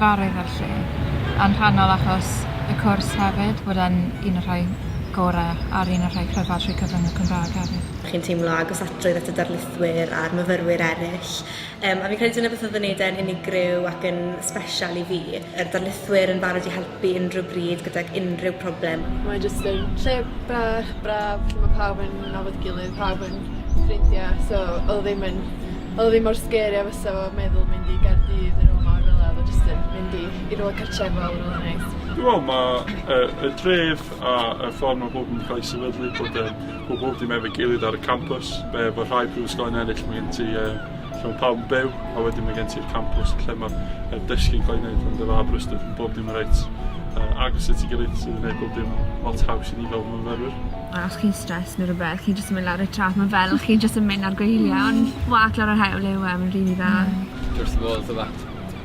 gyfarwydd â'r lle, yn rhannol achos y cwrs hefyd, bod e'n un o'r rhai gorau a'r un o'r rhai cryfaf trwy cyfrwng y Cymraeg hefyd. Chi'n teimlo agos atrwydd at y darlithwyr a'r myfyrwyr eraill Yym a fi'n credu dyna beth odd yn neud e'n unigryw ac yn sbesial i fi. Yr darlithwyr yn barod i helpu unrhyw bryd gydag unrhyw problem. Mae jyst yn lle bach braf lle ma' pawb yn nabod gilydd pawb yn ffrindia so odd o ddim yn odd o ddim mor scary a fysa fo meddwl mynd i Gaerdydd ne' rwla mawr fela odd o jyst yn mynd i i rwla cartrefol rwla neis. Dwi me'wl ma' yy y dref a y ffor ma' pobol yn ca'l 'u sefydlu bod yn Pobl dim efo'i gilydd ar y campws, be efo rhai prifysgolion eraill mae gen ti e, lle mae pawb yn byw, a wedyn mae gen ti'r campws lle mae'r er dysgu'n cael ei wneud yn dy fa Aberystwyth, mae bob dim yn reit uh, agos at ei gilydd sydd yn gwneud bob dim lot haws i ni fel myfyrwyr. A os chi'n stres neu rhywbeth, chi'n jyst yn mynd lawr y trap, mae fel chi'n jyst yn mynd ar gwyliau, ond wag lawr yr hewl yw e, mae'n rili dda. Just the walls of that.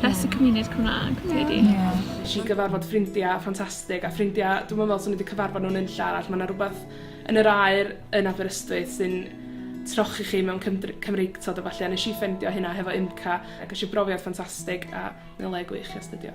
Bless y cymuned Cymraeg, dwi 'di. Wnes i gyfarfod ffrindiau ffantastig, a ffrindiau, dwi'm yn meddwl 'swn i 'di cyfarfod nhw yn unlle arall. Mae 'na rywbeth yn yr aer yn Aberystwyth sy'n trochi chi mewn cymdr- Cymreictod a ballu, a wnes i ffeindio hynna hefo UMCA, a ges i brofiad ffantastig, a mae'n le gwych i astudio.